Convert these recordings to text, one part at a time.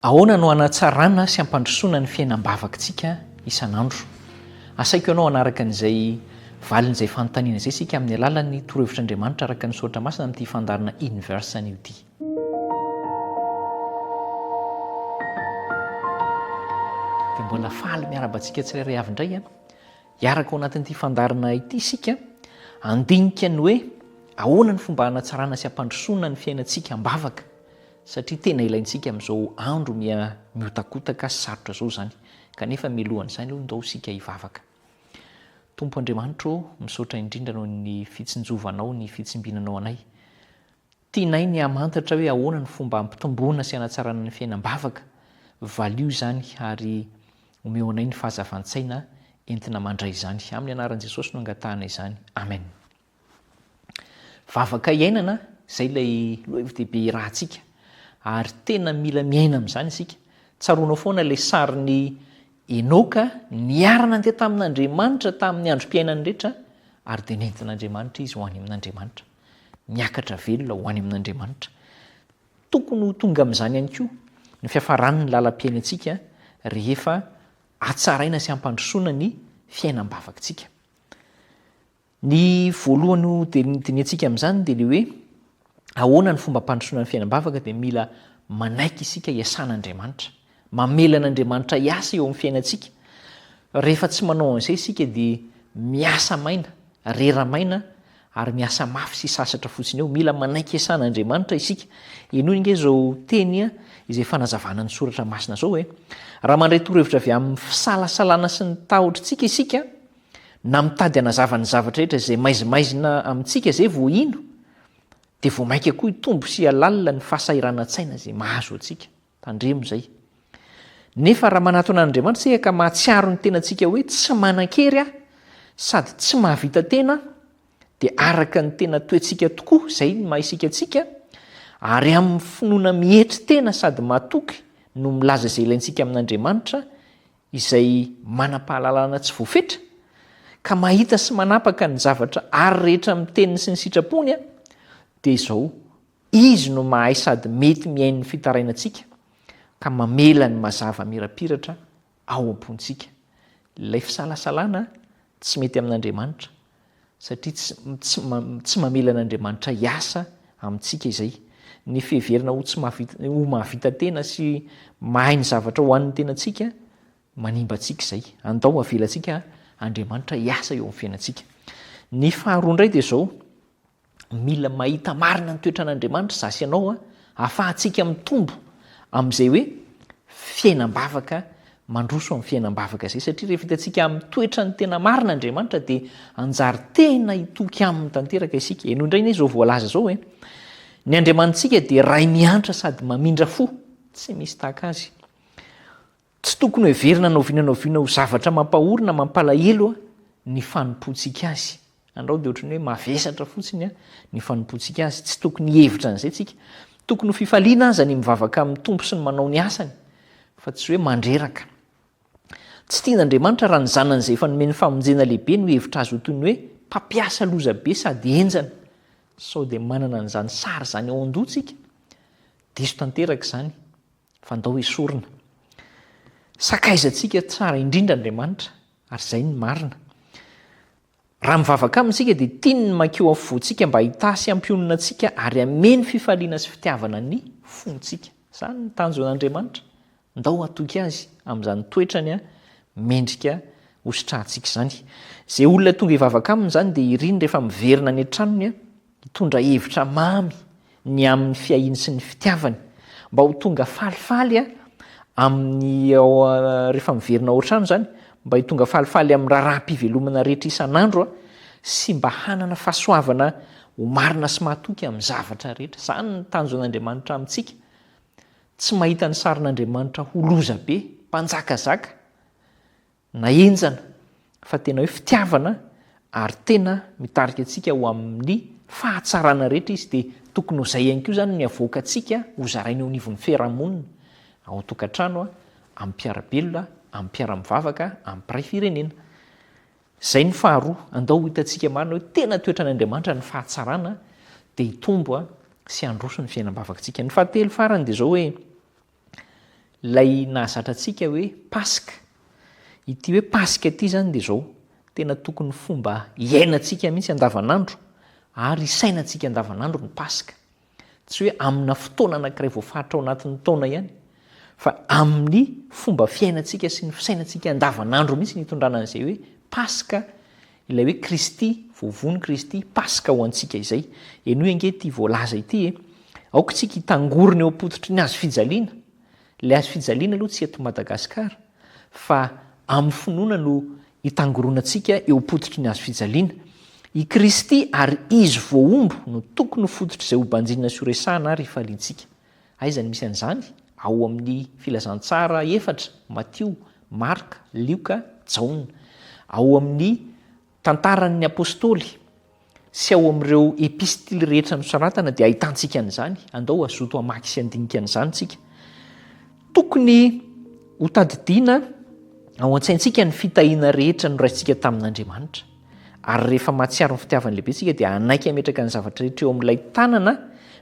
Ahoana no hanatsarana sy hampandrosoana ny fiainam-bavaktsika isan'andro? Asaiko ianao hanaraka an'izay valin'izay fanontaniana izay isika amin'ny alalan'ny torohevitr'Andriamanitra araka ny soratra masina amin'ity fandaharana Inverse anio ity. Dia mbola faly miarahaba antsika tsirairay avy indray an. Hiaraka ao anatin'ity fandaharana ity isika handinika ny hoe ahoana ny fomba hanatsarana sy hampandrosoana ny fiainantsika am-bavaka satria tena ilaintsika amin'izao andro miha mihotakotaka sy sarotra izao izany, kanefa mialohan'izany aloha ndao isika hivavaka. Tompo Andriamanitra ô, misaotra indrindra noho ny fitsinjovanao ny fitsimbinanao anay. Tianay ny hamantatra hoe ahoana ny fomba hampitomboana sy hanatsarana ny fiainam-bavaka, valio izany ary omeo anay ny fahazavan-tsaina entina mandray izany. Amin'ny anaran'i Jesosy no angatahanay izany. Amen. Vavaka iainana, izay ilay lohahevi-dehibe irahantsika. Ary tena mila miaina amin'izany isika. Tsaroanao foana ilay sarin'i Enoka niara-nandeha tamin'Andriamanitra tamin'ny androm-piainany rehetra, ary dia nentin'Andriamanitra izy ho any amin'Andriamanitra. Niakatra velona ho any amin'Andriamanitra. Tokony ho tonga amin'izany ihany koa ny fiafaran'ny lalam-piainantsika rehefa hatsaraina sy hampandrosoana ny fiainam-bavakintsika. Ny voalohany ho dinihantsika amin'izany dia ilay hoe ahoana ny fomba hampandrosoana ny fiainam-bavaka dia mila manaiky isika hiasana Andriamanitra. Mamela an'Andriamanitra hiasa eo amin'ny fiainantsika. Rehefa tsy manao an'izay isika dia miasa maina, rera maina ary miasa mafy sy sasatra fotsiny eo. Mila manaiky hiasana Andriamanitra isika. Henoy ange izao teny izay fanazavana ny soratra masina izao hoe, Raha mandray torohevitra avy amin'ny fisalasalana sy ny tahotr'tsika isika, Na mitady hanazava ny zavatra rehetra izay maizimaizina amintsika izay vao hino, dia vao mainka koa hitombo sy hihalalina ny fahasahiranantsaina izay mahazo antsika. Tandremo izay. Nefa raha manatona an'Andriamanitra isika ka mahatsiaro ny tenantsika hoe tsy manan-kery aho sady tsy mahavita tena aho, dia araka ny tena toetsika tokoa izay ny maha-isika antsika, ary amin'ny finoana mietry tena sady matoky no milaza izay ilaintsika amin'Andriamanitra izay manam-pahalalana tsy voafetra, ka mahita sy manapaka ny zavatra ary rehetra amin'ny teniny sy ny sitrapony, dia izao, Izy no mahay sady mety mihaino ny fitarainantsika, ka mamela ny mazava mirapiratra ao am-pontsika. Ilay fisalasalana Tsy mety amin'Andriamanitra, satria tsy, tsy, tsy mamela an'Andriamanitra hiasa amintsika izay. Ny fiheverana ho, tsy mahavita, ho mahavita tena sy mahay ny zavatra ho an'ny tenantsika, manimba antsika izay. Andao avelantsika Andriamanitra hiasa eo amin'ny fiainantsika. Ny faharoa indray dia izao, Mila mahita marina ny toetran'Andriamanitra za sy ianao a, ahafahantsika mitombo amin'izay hoe fiainam-bavaka mandroso amin'ny fiainam-bavaka izay satria rehefa hitantsika amin'ny toetrany tena marina Andriamanitra dia hanjary tena hitoky aminy tanteraka isika. Henoy indray anie izao voalaza izao hoe ny Andriamanitsika dia Ray miantra sady mamindra fo, tsy misy tahaka azy. Tsy tokony hoheverina na oviana na oviana ho zavatra mampahory na mampalahelo ny fanompoantsika Azy. Andrao dia ohatran'ny hoe mavesatra fotsiny ny fanompoantsika Azy. Tsy tokony hihevitra an'izay tsika. Tokony ho fifaliana aza ny mivavaka amin'ny Tompo sy ny manao ny asany, fa tsy hoe mandreraka. Tsy tian'Andriamanitra raha ny Zanany izay efa nomeny famonjena lehibe no hihevitra Azy ho toy ny hoe mpampiasa loza be sady henjana. Sao dia manana an'izany sary izany ao an-doha tsika? Diso tanteraka izany. fa ndao esorina. Sakaizantsika tsara indrindra Andriamanitra ary izay ny marina. Raha mivavaka aminy isika dia tiany ny mankeo afovoantsika mba hitaha sy hampionona antsika ary hameno fifaliana sy fitiavana ny fontsika. Izany ny tanjon' Andriamanitra. Ndao hatoky Azy amin'izany toetrany mendrika hositrahantsika izany. Izay olona tonga hivavaka aminy izany dia iriny rehefa miverina any an-tranony Nitondra hevitra mamy ny amin'ny fiahiany sy ny fitiavany mba ho tonga falifaly a amin'ny rehefa miverina ao an-trano izany mba hitonga falifaly amin'ny raharaham-pivelomana rehetra isan'andro a sy mba hanana fahasoavana ho marina sy mahatoky amin'ny zavatra rehetra. Izany ny tanjon'Andriamanitra amintsika. Tsy mahita ny sarin'Andriamanitra ho loza be, mpanjakazaka. Na henjana fa tena hoe fitiavana ary tena mitarika antsika ho amin'ny fahatsarana rehetra izy dia tokony ho izay ihany koa izany ny avoakantsika ho zaraina eo anivon'ny fiarahamonina, ao an-tokantrano, amin'ny mpiara-belona, amin'ny mpiara-mivavaka, amin'ny mpiray firenena. Izay ny faharoa, andao ho hitantsika marina hoe tena toetran' Andriamanitra ny fahatsarana dia hitombo sy handroso ny fiainam-bavakantsika. Ny fahatelo farany dia izao hoe. Ilay nahazatra antsika hoe Paska. Ity hoe Paska ity izany dia izao, tena tokony fomba iainantsika mihitsy andavanandro ary isainantsika andavanandro ny Paska. Tsy hoe amina fotoana anankiray voafaritra ao anatin'ny taona ihany, fa amin'ny fomba fiainantsika sy ny fisainantsika andavanandro mihitsy ny hitondrana an'izay hoe Paska Ilay hoe Kristy, voavono Kristy, Paska ho antsika izay. Henoy ange ity voalaza ity e, Aoka isika hitangorona eo am-pototry ny hazo fijaliana. Ilay hazo fijaliana aloha tsy eto Madagasikara, fa amin'ny finoana no itangoronantsika eo am-pototry ny hazo fijaliana. I Kristy ary Izy voahombo no tokony ho fototr'izay hobanjinina sy horesahana ary hifaliantsika. Aiza no misy an'izany? Ao amin'ny Filazantsara efatra, Matio, Marka, Lioka, Jaona. Ao amin'ny Tantaran'ny Apôstôly sy ao amin'ireo Epistily rehetra nosoratana dia ahitantsika an'izany. Andao hazoto hamaky sy handinika an'izany isika. Tokony hotadidiana ao an-tsaintsika ny fitahiana rehetra noraisintsika tamin'Andriamanitra. Ary rehefa mahatsiaro ny fitiavan'ny lehibe isika dia hanaiky hametraka ny zavatra rehetra eo amin'ilay tanana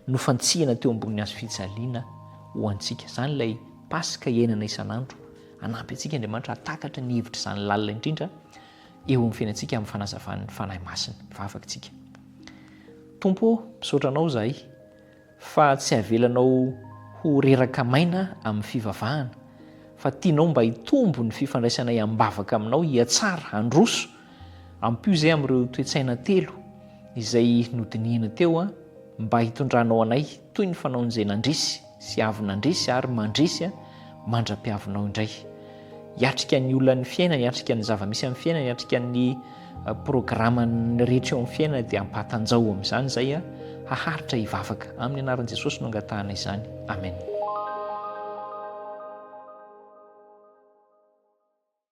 nofantsihina teo ambony hazo fijaliana ho antsika. Izany ilay Paska iainana isan'andro. Hanampy antsika Andriamanitra hahatakatra ny hevitra izany lalina indrindra eo amin'ny fiainantsika amin'ny fanazavan'ny Fanahy Masina. Vavaka isika. Tompo ô, misaotra Anao izahay. Fa tsy havelanao ho reraka maina amin'ny fivavahana, fa tianao mba hitombo ny fifandraisanay am-bavaka aminao, hihatsara, handroso. Ampio izay amin'ireo toe-tsaina telo izay nodinihina teo mba hitondranao anay toy ny fanaon'izay nandresy sy avy nandresy ary mandresy mandra-piavinao indray. hiatrika ny olan'ny fiainana, hiatrika ny zava-misy amin'ny fiainana, hiatrika ny eh, programan'ny rehetra eo amin'ny fiainana dia ampatanjao amin'izany izay eh, haharitra hivavaka. Amin'ny anaran'i Jesosy no angatahana izany. Amen.